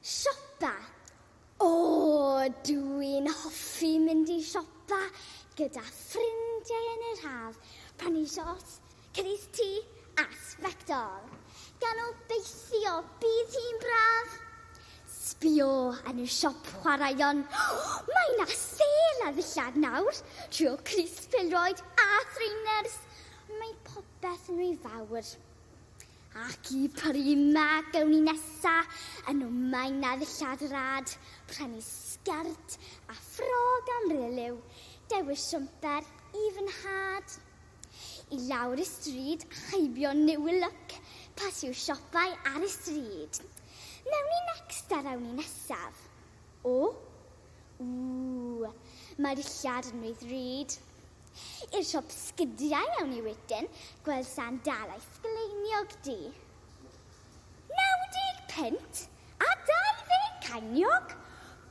Siopa, O! Dw i'n hoffi mynd i siopa gyda ffrindiau yn yr haf, prynu siorts, cynnyrch tŷ a sbectol. Gan obeithio bydd hi'n braf! Sbïo yn y siop chwaraeon, mae 'na sêl ar ddillad nawr, trio crys pêl-droed a thrainers, mae popeth yn ry fawr. Ac y prima gewn ni nesa yn o mae na ddillad rad, prynu sgert a ffrog am riliw, dewis siwmper i fy nhad. I lawr y stryd a heibio new look, pas i'w siopau ar y stryd. Mewn i next a rewn ni nesaf. O! Ww! Mae dillad yn rhy ddrud. I'r siop sgidiau awn ni wedyn, gweld San dal a'i sgleiniog du. 90 punt a 20 ceiniog!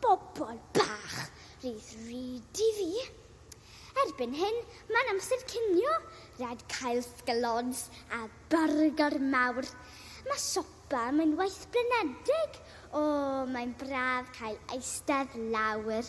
Bobol bach, rhydd ryd i fi. Erbyn hyn, mae'n amser cinio, rhaid cael sgaloons a byrgor mawr. Mae siopa am unwaith blinedig. O, mae'n braf cael eistedd lawr.